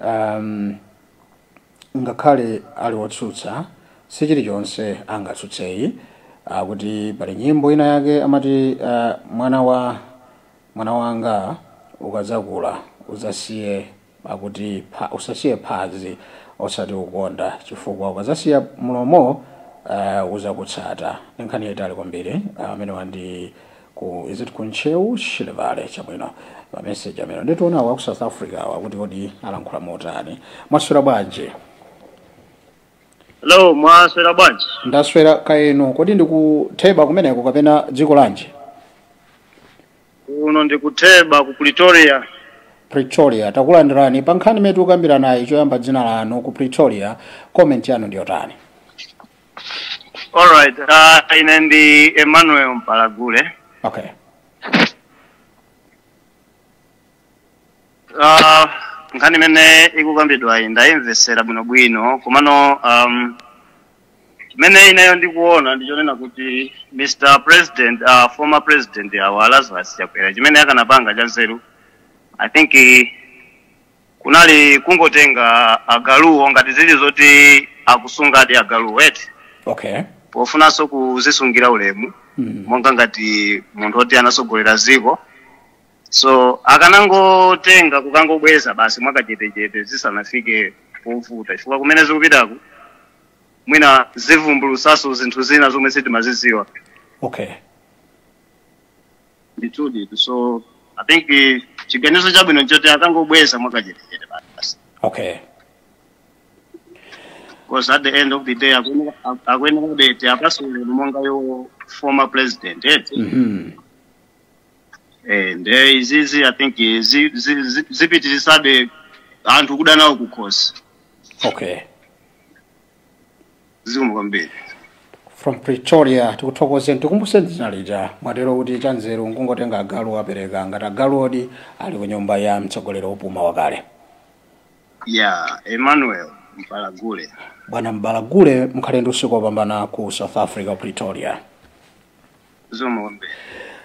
um, ngakhale ali otsutsa si chilichonse angatsutseyi akuti pali nyimbo ina yake amati uh, mwana wa Mwana wanga ukadzakula udzasiye akuti pha, udzasiye phazi osati mlomo chifukwa ukadzasiya mlomo uh, uzakutsata ndi nkhani yaitali kwambiri amene uh, wandi ku is it ku Ntcheu shilevale chabwino pa message koma nditione wa ku south africa awa kuti kodi alankhula motani mwaswera bwanji Hello, mwaswera bwanji? ndaswera kaya inu kodi ndi ku Theba kumeneko kapena dziko lanji Kuno ndi ku Theba ku Pretoria. pretoria takulandirani pa nkhani imene tikukambiranayi choyamba dzina lanu ku pretoria comment yanu ndiyotani All right. Uh, ine ndi Emmanuel Mpalagule. okay Ah, nkhani imene ikukambidwayi ndayimvesera bwinobwino komano um, chimene ineyo ndikuona ndichonena kuti mr president uh, former president awa lazarus chakwera chimene akanapanga cha nzeru i think eh, kunali kungotenga agaluwo ngati zili zoti akusungadi agaluwo eti okay pofunanso kuzisungira ulemu monga ngati munthu oti anatsogolera dziko so akanangotenga kukangobweza basi mwakachetechete zisanafike povuta chifukwa kumene zikupitako mwina zivumbulusaso zinthu zina zomwe sitimaziziwa okay ndithudi so i think eh, chiganizo chabwino nchoti akangobweza mwakachetechete basi okay because at the end of the day akuyenera- akuyenera kuti apasule monga iwo former president eti mm-hmm. Eh, nde izizi i think zi- zi- zi- zipitirisabe anthu kuda nawo kukhosi okay zikomo kwambiri from pretoria tikuthokozeni tikumbuse dzina lija mwatero kuti chanzeru nkungotenga agalu apereke ngati agalu di ali ku nyumba ya mtsogoleri opuma wakale ya emmanuel mbalagule bwana mbalagule mukhale ndi usiku wopambana ku south africa pretoria zikomo kwambiri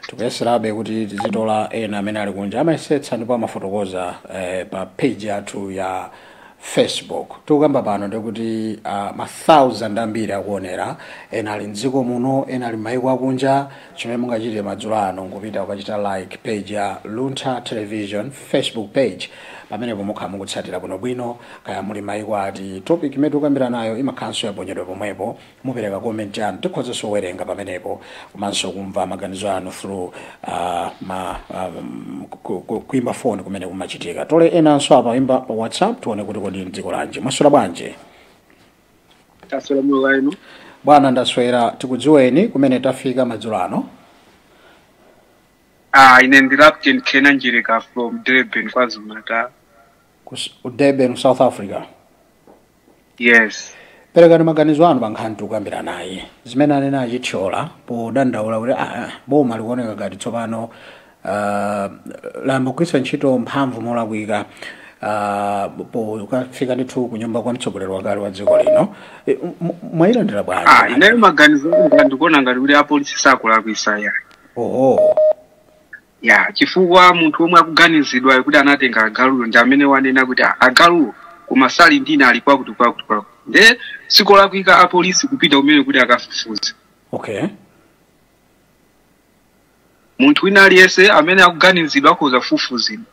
tikuyeserabe kuti tizitola ena amene ali kunja amayesetsa ndipo amafotokoza eh, pa page yathu ya facebook tikukamba pano ndikuti uh, ma thousand ambiri akuonera ena ali mdziko muno ena ali m'mayiko akunja chimene mungachite madzulo ano nkupita kukachita like page ya luntha television facebook page pamenepo mukhala mukutsatira bwinobwino kaya muli mayiko ati topic imene tikukambira nayo imakhalanso yaponyedwa pomwepo mupereka comment yanu tikhozanso kuwerenga pamenepo komanso kumva maganizo anu through uh, ma um, ku- ku- kuimba phone kumene kumachitika tole enanso apa aimba pa whatsapp tione kuti kodi ndi dziko lanji mwaswera bwanji taswera bwino kaya inu bwana ndaswera tikudziweni kumene tapeza madzulo ano ah ine ndi captain kenan njirika from durban kwazulu natal ku S- ku durban south africa yes perekani maganizo anu pa nkhani tikukambiranayi zimene anena achithyola podandaula kuti ah, boma likuoneka ngati tsopano ah, layamba kugwiritsa ntchito mphamvu molakwika ah, pokafika ndithu ku nyumba kwa mtsogoleri wakale wa dziko lino Eh, m- m- mwayilandira ah bwanji ineyo maganizo anga ndikuona ngati kuti apolisi sakulakwisa ya oho ya chifukwa munthu omwe akuganizidwayo kuti anatenga agaluyo ndi amene wanena kuti "Ah, agaluwo koma sali ndi ine ali kwakuti kwakuti kwakuti nde sikolakwika apolisi kupita kumene kuti akafufuze okay munthu wina aliyense amene akuganizidwa akhoza kufufuzidwa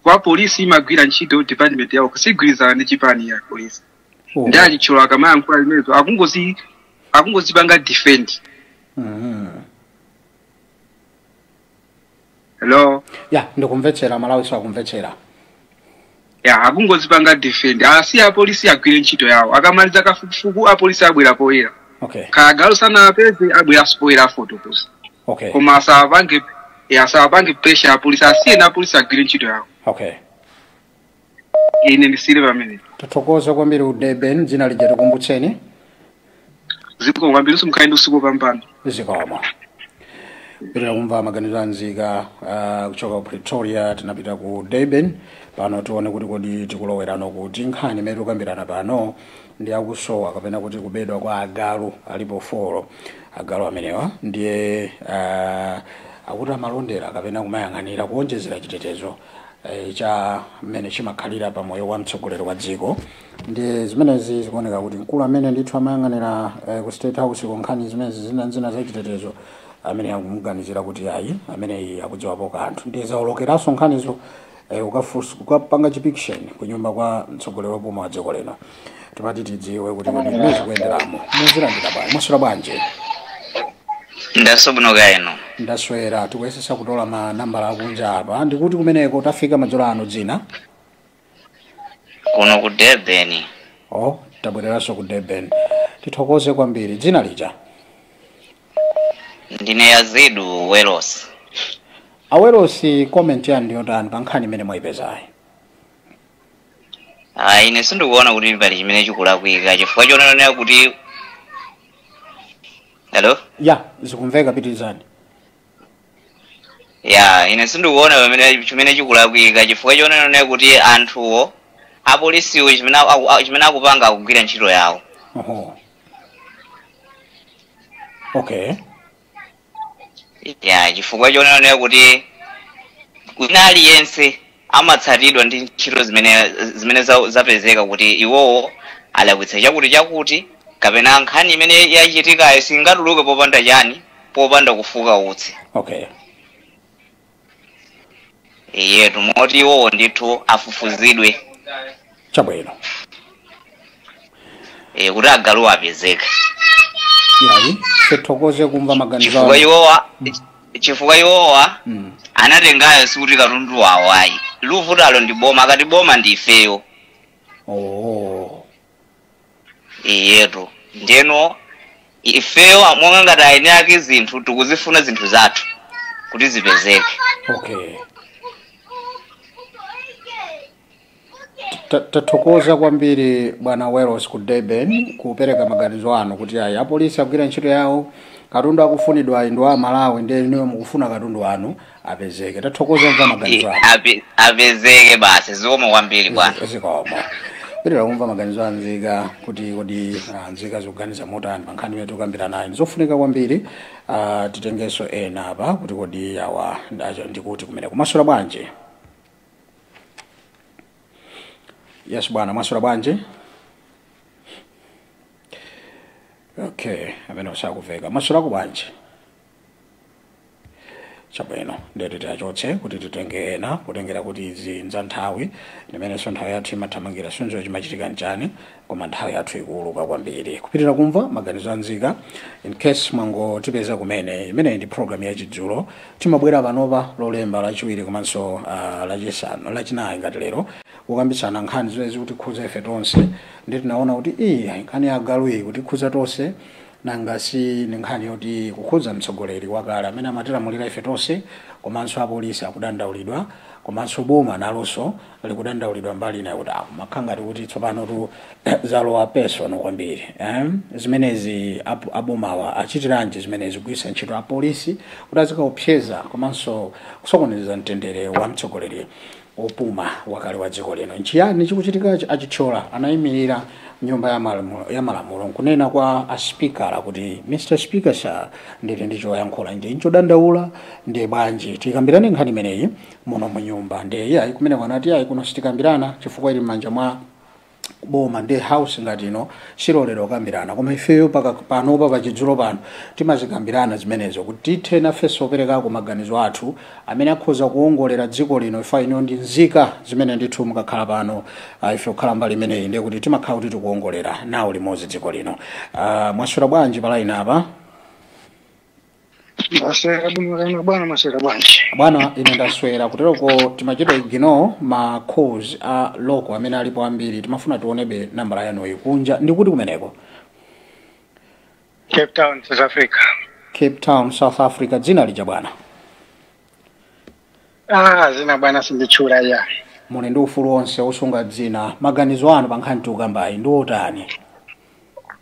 coz polisi imagwira ntchito department yawo siyigwirizana ndi chipani ya polisi Oh. ndi achithyola akamayankhula zimenezo akungozi akungozipanga defend Mhm. hello ya ndikumvetsera malawi sakumvetsera ya akungozipanga defend asiye apolisi agwire ntchito yawo akamaliza kafukufuku apolisi abwera poyera okay kaya galu sanampeze abwera poyera afotokoza okay koma asawapange ya asawapange pressure apolisi asiyeni apolisi agwire ntchito yawo okay ine ndisiyire pamene tithokoze kwambiri ku Durban dzina lija tikumbutseni zikomo kwambiri Sim mukhale ndi usiku wabwino zikomo pitiriza kumva maganizo a nzika ah, kuchoka ku pretoria tinapita ku durban pano tione kuti kodi tikuloweranso kuti nkhani imene tikukambirana pano ndi ya kusowa kapena kuti kubedwa kwa agalu alipo folo agalu amenewa ndiye ah, akuti amalondera kapena kumayang'anira kuonjezera chitetezo cha mmene chimakhalira pa moyo wa mtsogoleri wa dziko ndiye zimenezi zikuoneka kuti mkulu amene ndithu amayang'anira eh, ku state house ku nkhani zimenezi zina zina za chitetezo amene akumuganizira kuti ayi ameneyi akudziwapo kanthu ndiye zaolokeranso nkhanizo eh, ukafunsa- kukapanga chipikisheni ku nyumba kwa mtsogoleri wopuma wa dziko lino tikuti tidziwe kuti kodi mmene zikuyenderamo mwazilandira bwanji mwaswera bwanji ndaswera bwino kaya inu ndaswera tikuyesesa kutola ma nambala akunja apa ndikuti kumeneko tafika madzulo ano dzina kuno ku durban o tabwereranso ku durban tithokoze kwambiri dzina lija ndine yazidu welos a welosi comment yanu ndiyotani pa nkhani imene mwayipezayi Ah, ine sindikuona kuti pali chimene chikulakwika chifukwa chonenera kuti hello ya zikumveka pitirizani ya ine sindikuona pamene chimene chikulakwika chifukwa chonena kuti anthuwo apolisiwo chimene aku- a- chimene akupanga akugwira ntchito yawo oho okay ya chifukwa chonena kuti wina aliyense amatsatidwa ndi ntchito zimene zimene za- zapezeka kuti iwowo alakwitsa chakuti chakuti kapena nkhani imene yachitikayo singatuluke popanda chani popanda kufuka utsi okay eyetu moti iwowo ndithu afufuzidwe chabwino e, kuti agalu apezeke ayi tithokoze kumva maganizo chifukwa anu iwowa chifukwa iwowa Mm. anatengayo sikuti katundu wawo ayi likuvutalo ndi boma akati boma ndi ifeyo oh iyetu ndiyeno ifeyo monga ngati eni ake zinthu tikuzifuna zinthu zathu kuti zipezeke okay Ta- tathokoza kwambiri bwana welos ku durban kupereka maganizo anu kuti ayi apolisi agwira ntchito yawo katundu akufunidwa ayi ndi wa malawi ndiye inuyo mukufuna katundu wanu apezeke tathokoza kumva maganizo anu Ape- apezeke basi zikomo kwambiri bwana zikomo kupitira kumva maganizo a nzika kuti kodi ah, nzika zikuganiza motani pa nkhani imene tikukambiranayi ndizofunika kwambiri ah, titengenso ena apa kuti kodi awa ndi kuti kumeneko mwaswera bwanji yes bwana mwaswera bwanji okay amene osakuveka mwaswerako bwanji chabwino ndiye tiachotse kuti titenge ena kutengera kuti izi n'za nthawi ndimenenso nthawi yathu imathamangira sindidziwa chimachitika nchani koma nthawi yathu ikuuluka kwambiri kupitira kumva maganizo a nzika in case mwangotipeza kumene imeneyi ndi program ya chidzulo timabwera panopa lolemba lachiwiri komanso uh, lachisanu lachinayi ngati lero kukambitsana nkhani zimene zikutikhuza ife tonse ndi tinaona kuti iyi nkhani ya galu iyi ikutikhuza tonse Nanga si ndi nkhani yoti ikukhudza mtsogoleri wakale amene amatilamulira ife tonse komanso apolisi akudandaulidwa komanso boma nalonso likudandaulidwa mbali ina yakuti akumakhala ngati kuti tsopanotu zalowa personal kwambiri eh? zimenezi ap- abomawa achitiranji zimenezi kugwiritsa ntchito apolisi kuti azikaopseza komanso kusokoneza mtendere wa mtsogoleri Wopuma wakale wa dziko lino, Nchiyani chikuchitikachi? A Chithyola anaimirira m'Nyumba ya Malamulo n'kunena kwa a Sipika kuti, Mr Speaker, Sir, ndili ndi choyankhula ndi n'chodandaula ndiye bwanji tikambirane nkhani imeneyi muno mu Nyumba. Ndiye iyayi, kumeneko anati, Iyayi, kuno sitikambirana chifukwa ili m'manja mwa. boma ndi house ngati ino siyilolera kukambirana koma ifeyo panopa pachidzulo pano timazikambirana zimenezo kuti tithe nafenso kuperekako maganizo athu amene akhoza kuwongolera dziko lino ife ndi inu ndi nzika zimene ndithu mukakhala pano ah, ife kukhala mbali imeneyi ndiye kuti timakhala kuti tikuwongolera nawo limodzi dziko lino Ah, mwaswera bwanji palaini apa ndaswera bwino kaya inu bwana mwaswera bwanji bwana ine ndaswera kuteroko timachita ignore ma calls a local amene alipo ambiri timafuna tionebe nambala ya inuyo kunja ndi kuti kumeneko cape town south africa cape town south africa dzina lija bwana Ah, zina bwana sinditchula ya. muli ndi ufulu wonse wosunga dzina maganizo anu pa nkhani tikukambayi ndi otani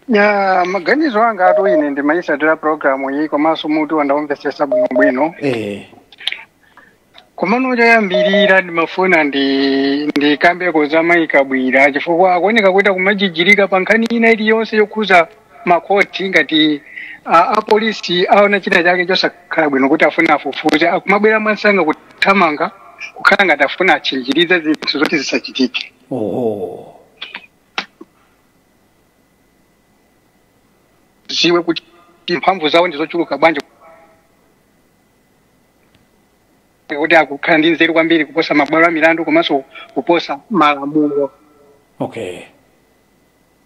Ya, maganizo angatu ine ndimayisatira programu iyi komanso mutuwu ndawumvesesa bwinobwino. eh Komano choyambirira ndimafuna ndi ndikambeko za Mayi Kabwila chifukwa akuoneka kuti akumajijirika pa nkhani ina iliyonse yokhuza makhoti ngati a, a polisi aona china chake chosakhala bwino kuti afuna afufuze akumabwera mwansanga kuthamanga kukhala ngati afuna atchinjirize zinthu zoti zisachitike oho ziwe kuti mphamvu zawo ndi zochuluka bwanji kuti akukhala ndi nzeru kwambiri kuposa mabwalo a milandu komanso kuposa malamulo okay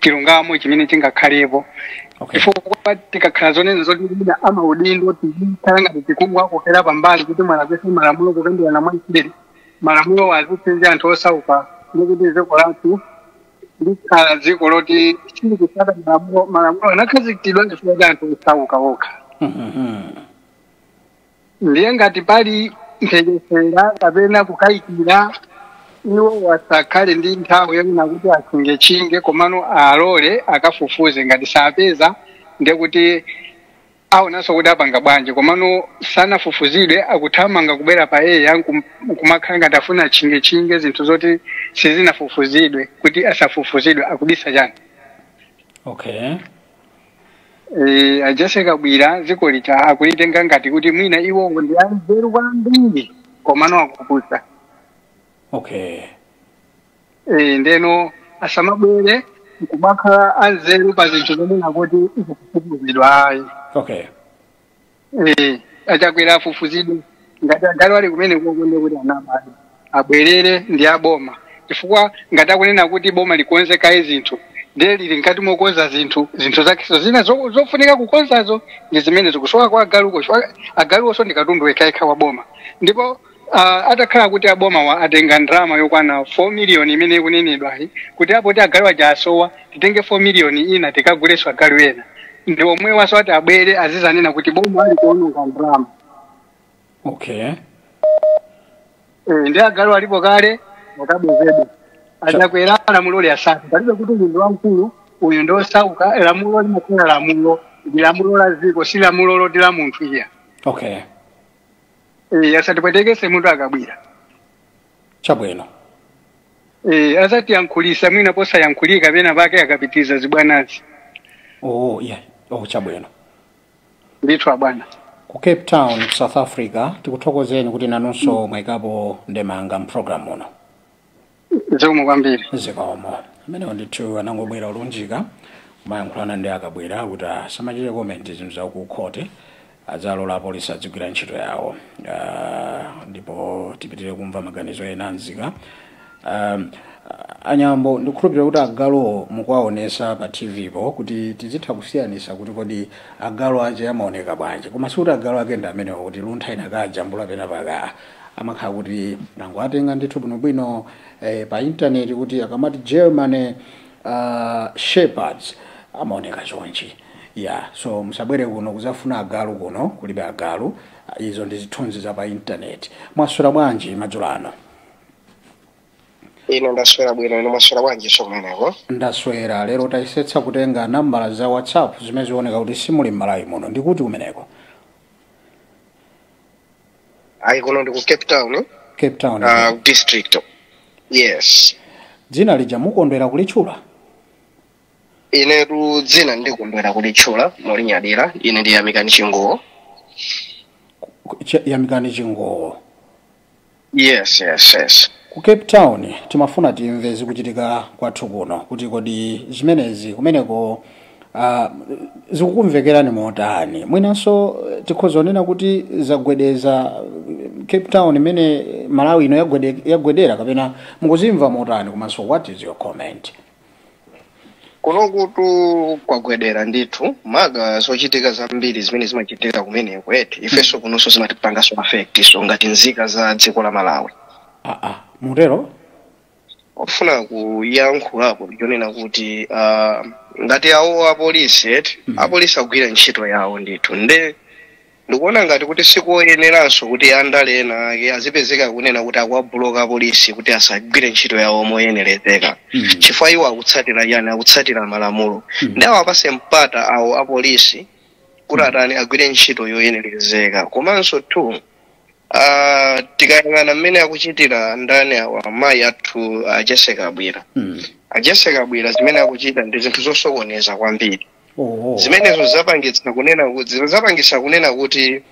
chilungamo chimene chingakhalepo Okay. chifukwa tikakhala zonena zoti mwina amaudindo tikhala ngati tikungowakokera pambali kuti mwalakwisa malamulo kukambirana mwanseri malamulo azipsinja anthu osauka ndikuti dziko lathu likhala dziko loti silikusata malamulo malamulo anakhazikitsidwa chifukwa cha anthu osauka okha Mhm. ndiye ngati pali mphekesera kapena kukayikira iwo asakhale ndi nthawi yonena kuti atchingetchinge komano alole akafufuze ngati sapeza ndiye kuti aonanso kuti apanga bwanji komano sanafufuzidwe akuthamanga kubwera pa air nkum- nkumakhala ngati afuna atchingetchinge zinthu zoti sizinafufuzidwe kuti asafufuzidwe akubisa chani okay Eh, a Jessie Kabwila dzikolitu akulitenga ngati kuti mwina iwowo ndi anzeru kwambiri komano akupusa okay Eh, ndeno asamabwere nkumakhala anzeru pa zinthu zonena kuti zikufufuzidwa ayi okay Eh, a Chakwera afufuzidwe ngati agalu ali kumeneko nde kuti anabadi abwerere ndi aboma chifukwa ngati akunena kuti boma likonze kaye zinthu ndiye lili mkati mokonza zinthu zinthu zakezo zina zo- zofunika kukonzazo ndi zimene zikusowa kwa agaluko chifukwa agaluwonso ndi katundu wekhaekha wa boma ndipo Uh, atakhala kuti abomawa atenga ndalama yokwana 4 miliyoni imene ikunenedwayi kuti a poti agalu aja asowa titenge 4 miliyoni ina tikagulenso agalu ena ndi omwewanso ati abwere azizanena kuti boma likuononga ndalama okay eh, ndi agalu alipo kale akabwezedwa a Chakwera lamulo liwasate palibe kuti uyu ndi wamkulu uyu ndi osauka lamulo limakhala lamulo ndi lamulo la dziko si lamulo loti la munthu iya okay Eh, asatipwetekese mutu akabwira chabwino Eh, azatiyankhulisa mwina posayankhulika pena pake akapitiriza zibwanazi oh, yeah. oh, chabwino ndithu abwana ku cape town ku south africa tikuthokozeni kuti nanunso mwayikapo ndemanga mpulogalamu uno zikomo kwambiri zikomo amenewo ndithu anangobwera olunjika kumayankhulana ndi akabwera kuti asamachite komenti zinthu za ku khote adzilola apolisi adzigwira ntchito yawo Ah, ndipo tipitire kumva maganizo ena anzika Um, anyambo ndikhulupirira kuti agaluwo mukuwaonesa pa tv po kuti tizitha kusiyanisa kuti kodi agalu ache amaoneka bwanji koma sikuti agalu ake ndi amenewo kuti luntha inakajambula penapake amakhala kuti tinangowatenga ndithu bwinobwino eh, pa intaneti kuti akamati german uh, shepherds amaoneka chonchi ya so musabwere kuno kuzafuna agalu kuno kulibe agalu Ah, izo ndi zithunzi za pa intaneti mwaswera bwanji madzulo ano ine ndaswera bwino ine mwaswera bwanjiso kumeneko ndaswera lero tayesetsa kutenga nambala za whatsapp zimene zioneka kuti simuli m'malawi muno ndikuti kumeneko ayi kuno ndi ku cape town cape town uh, district yes dzina lija mukondwera kulitchula inetu dzina ndikondwera kulitchula molinyadira ine ndi yamikani chinguwo Ch- yamikani chinguwo yes yes yes ku cape town timafuna timve zikuchitika kwathu kuno kuti kodi zimenezi kumeneko Ah, zikukumvekerani motani mwinanso eh, tikhoza kunena kuti zagwedeza eh, cape town imene malawi ino yagwede, yagwedera kapena mukuzimva motani komanso what is your comment kunokutu kwagwedera ndithu maka zochitika zambiri zimene zimachitika kumeneko eti ifenso kunonso zimatipanganso affect so ngati nzika za dziko la malawi ah, ah, mutero ofuna kuyankhulapo ndichonena kuti uh, ngati awo apolisi eti Mhm. apolisi agwira ntchito yawo ndithu nde ndikuona ngati kuti sikuyeneranso kuti andale ena ake azipezeka kunena kuti akuwabuloka apolisi kuti asagwire ntchito yawo moyenerezeka Mm. chifukwa iwo akutsatira chani akutsatira malamulo Mhm. nde awapatse mpata awo apolisi kuti atani agwire ntchito yoyenerezeka komanso two Ah, tikayang'ana mmene akuchitira ndani awa amayi athu a Jesse Kabwira Mm. a Jesse Kabwira zimene akuchita ndi zinthu zosokoneza kwambiri Oh. zimenezo zapangitsa kunena kuti zapangitsa kunena kuti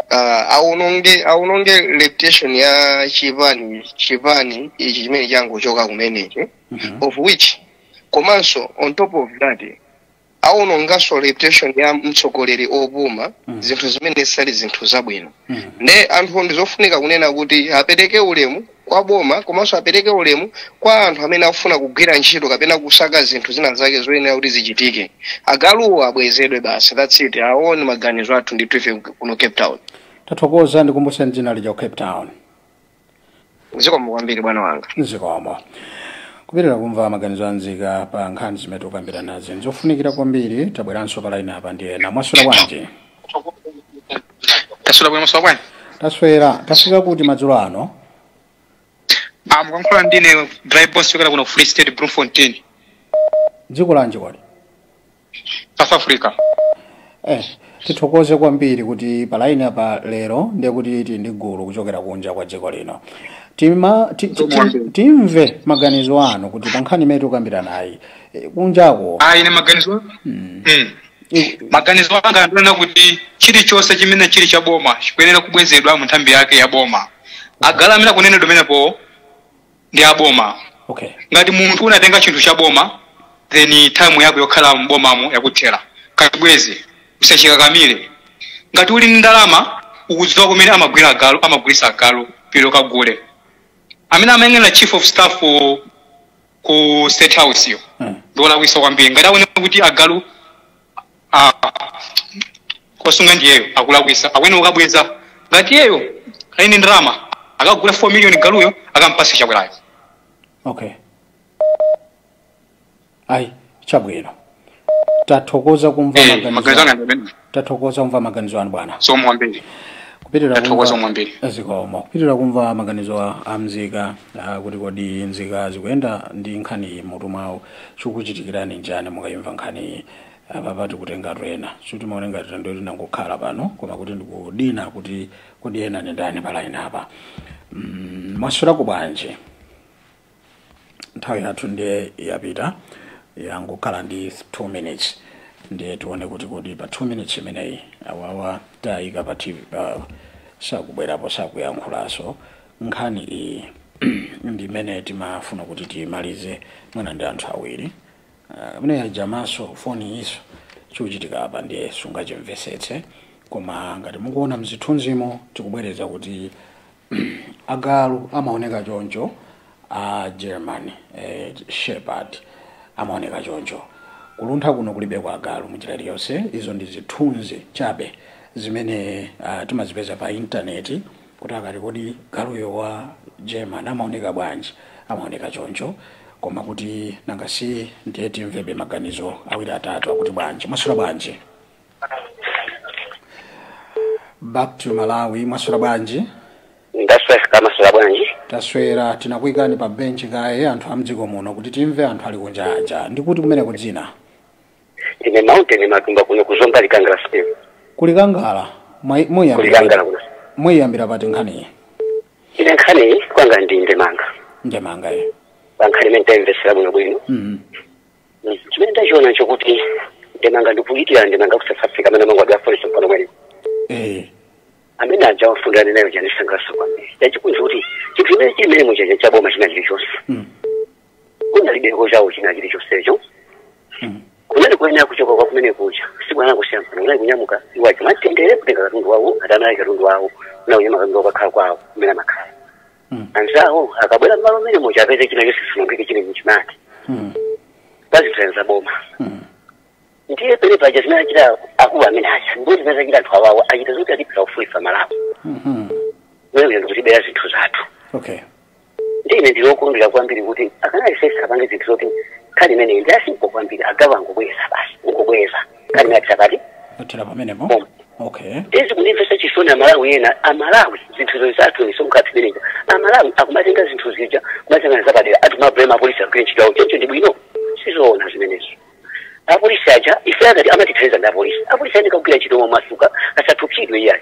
ah, awononge awononge reputation ya chipani chipani ichi chimene changochoka kumenechi Mhm. of which komanso on top of that awononganso reputation ya mtsogoleri opuma Mm. zinthu zimene zisali zinthu zabwino Mm. nde anthu ndi zofunika kunena kuti apereke ulemu kwa boma komanso apereke ulemu kwa anthu amene akufuna kugwira ntchito kapena kusaka zinthu zina zake zoyenera kuti zichitike agaluwo abwezedwe basi that's it awo ndi maganizo athu ndithu ife kuno cape town tathokoza ndikumbuseni dzina lija ku cape town zikomo kwambiri bwana wanga zikomo kupitirira kumva maganizo a nzika pa nkhani zimene tikukambiranazi nzofunikira kwambiri tabweranso pa laini apa ndi ena mwaswera bwanji taswera bwino mwaswera bwanji taswera tafika kuti madzulo ano ah mukuyankhula ndine drive boss kuchokera kuno ku free state bloemfontein dziko lanji kodi south africa eh, tithokoze kwambiri kuti palaini apa lero ndiye kuti tili ndi gulu kuchokera kunja kwa dziko lino Timve, ti, ti, ti, timve maganizo anu kuti pa nkhani imene tikukambiranayi eh, kunjako ayi ine maganizo mm. eh, maganizo anga ndi onena kuti chilichonse chimene chili cha boma chikuyenera kubwezedwa mu nthambi yake ya boma agalu amene akunenedwa amenewo ndi aboma okay ngati munthu unatenga chinthu cha boma then time yako yokhala mbomamo yakuthera kabweze usachikakamire ngati uli ndi ndalama ukudziwa kumene amagula agalu amagulisa agalu pilo kagule amene amayang'anira chief of staff ku- ku state house yo Mm. ndiwolakwisa kwambiri ngati aone kuti agalu akusunga ndiyeyo akulakwisa akuyenera kukabweza ngati yeyo ali ndi ndalama akagule 4 million galuyo akampatse chakwerayo okay ayi chabwino tathokoza kumva Eh, maganizo maganizo anu. anga ndi amene. tathokoza kumva maganizo anu bwana zikomo kwambiri kupitirira Tathokoza kwambiri. zikomo kupitirira kumva maganizo a- a mzika ah, kuti kodi nzika zikuyenda ndi nkhani mmutu mwawo Chikuchitikirani nchani mukaimva nkhaniyi? Apapa tikutengatu ena. Sitimaona ngati tangokhala pano koma kuti ndikudina kuti kodi ena ndi ndani pa line apa. Mm, Mwaswerako bwanji? Nthawi yathu ndiye yapita yangokhala ndi 2 minutes ndiye tione kuti kodi pa 2 minutes imeneyi awawa tayika pa TV pa sakubwerapo sakuyankhulaso Nkhani iyi ndi imene timafuna kuti tiimalize mwina ndi anthu awiri mmene ajamaso foniyiso chikuchitika apa ndiye sungachimvesetse koma ngati mukuona mzithunzimo tikubwereza kuti agalu amaoneka choncho a German shepherd amaoneka choncho kuluntha kuno kulibeko agalu munjira iliyonse izo ndi zithunzi chabe zimene timazipeza pa intaneti kuti akati kodi galuyo wa German amaoneka bwanji, amaoneka choncho, koma kuti nanga si ndiye timvebe maganizo awiri atatu akuti bwanji mwaswera bwanji back to malawi mwaswera bwanji ndaswera kaya mwaswera bwanji taswera tinakuyikani pa benchi kaye anthu a mdziko muno kuti timve anthu ali kunja aja ndikuti kumene kudzina ine mountain matumba kuno ku zomba likangala stem kulikangala mwa- muyambira ku likangala kuno muyambira pati nkhaniyi ine nkhani kwanga ndi ndemanga ndemanga iyi pankhani imene ndayimvesera bwino bwino Mhm. Mm. chimene ndachiona n'chokuti ndemanga ndikuitira ndemanga ku south africa amene amangidwa ndi apolisi mpano mwene Eh, amene aja wafundana nayo zandisangalatsa kwambiri yachikunzi kuti chinthu imene chimene muchacha chaboma china chilichonse Mm. kunalibeko chawo china chilichonsecho kunali kuyenera kuchoka kwa kumene kuja sibwana kusiyana pano kunali kunyamuka iwacho mwamtendere kutenga katundu wawo ngati anali katundu wawo ndi kunyamula katundu wawo kukakhala kwawo kumene amakhala anzawo akabwera mmalo mmene muja apeze china chonse chisaonongeke chili m'chimake pazitsenza boma ndiye pene paja zimene achita akulu amene aja ndipo zimene zachita anthu awawa achita zoti atibera kufunisa malawi mene kuja ndikutibera zinthu zathu okay ndi ine ndili okondwera kwambiri kuti akanayesetsa apange zinthu zoti nkhani imeneyi ndi asimpo kwambiri agawa angobweza basi ungobweza nkhani imene isangothera pamenepo. Bom. Okay. zikundimvetsa chisoni amalawi ena amalawi zinthu zoti zathu ndi msonkho wathu umene uja amalawi akumatenga zinthu zija kumatengana zapadera ati ma problem a apolisi agwire ntchito yawo choncho ndi bwino sizoona zimenezo apolisi aja ife akati amatithandiza ndi apolisi apolisi ayeneka kugwira ntchito momasuka asaopsedwe iyayi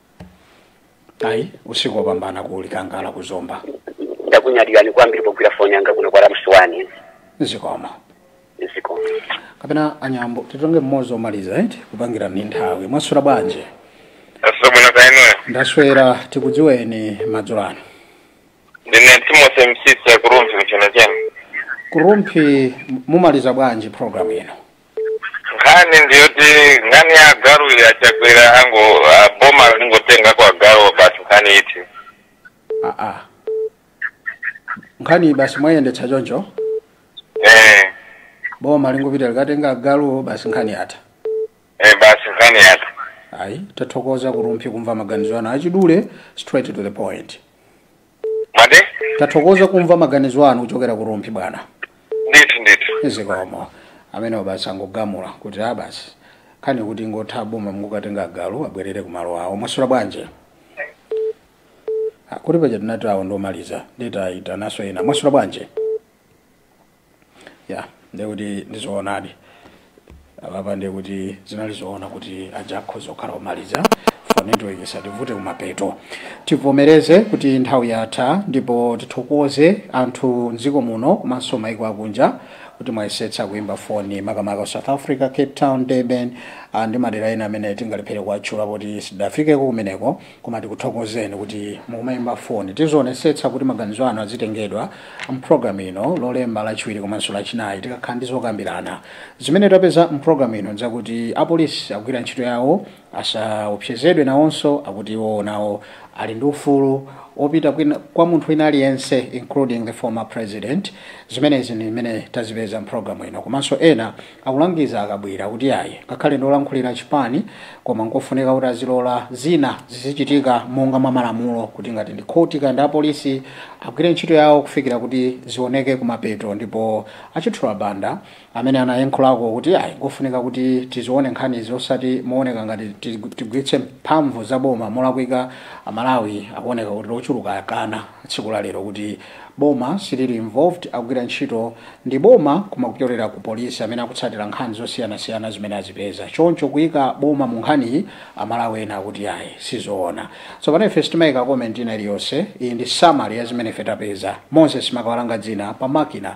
ayi usiku wopambana ku likangala ku zomba ndakunyadirani kwambiri pogwira foni yanga kuno kwa ramswani zikomo zikomo kapena anyambo titenge mmodzi omaliza eti kupangira ni nthawi mwaswera bwanji asomona kainoyo ndaswera tikudziweni madzulo ano ndine timothy msisi a ku rumphi ku nchenachena ku rumphi m- mumaliza bwanji programu ino nkhani ndiyoti nkhani ya agalu a chakwera ango ah, boma lingotengako agaluwo basi nkhani ithe aa nkhani basi mwayendetsa choncho eh boma lingopita likatenge agaluwo basi nkhani yatha eh basi nkhani yatha ayi tathokoza ku rumphi kumva maganizo anu achidule straight to the point mande tathokoza kumva maganizo anu kuchokera ku rumphi bwana ndithu ndithu zikomo ameneyo basi angogamula kuti aa basi nkhani kuti ingotha boma lingokatenga agalu abwerere ku malo awo mwaswera bwanji Ah, kuti paja tinati awo ndiomaliza ndiye taitananso ena mwaswera bwanji ya ndiye kuti ndizoonadi apapa ndiye kuti zinali zoona kuti aja akhoza kukhala omaliza for network isativute kumapeto tivomereze kuti nthawi yatha ndipo tithokoze anthu mdziko muno komanso maiko akunja kuti mwayesetsa kuimba foni makamaka south africa cape town durban ah, ndi madera ena amene tingalephere kuwatchula poti sidafikeko kumeneko Koma tikuthokozeni kuti mukumaimba foni. Tizioonetsetsa kuti maganizo anu azitengedwa m'programu ino Lolemba, Lachiwiri komanso Lachinayi tikakhala ndi zokambirana. Zimene tapeza m'programu ino n'zakuti apolisi akugwira ntchito yawo, asaopsezedwe nawonso, akuti iwowo nawo ali ndi ufulu wopita kwina, kwa munthu wina aliyense including the former President. Zimenezi ndi zimene tazipeza m'programu ino komanso ena Akulangiza a Kabwira kuti ayi, ngakhale ndi olankhulira chipani koma nkofunika kuti azilola zina zizichitika monga mwa malamulo kuti ngati ndi khoti kaya ndi apolisi agwire ntchito yawo kufikira kuti zioneke kumapeto ndipo a Chithyola Banda amene anayenkhulako kuti ayi nkofunika kuti tizione nkhanizi osati mooneka ngati tigwiritse mphamvu za boma molakwika a Malawi akuoneka kuti ochuluka akana tsiku la lero kuti Boma silili involved akugwira ntchito ndi boma koma kupyolera ku police amene akutsatira nkhani zosiyanasiyana zimene azipeza choncho kuika boma mu nkhaniyi amalawi ena akuti ayi sizoona tsopano ife sitimaika comment ina iliyonse iyi ndi summary ya zimene ife tapeza Moses Makawalanga dzina pa makina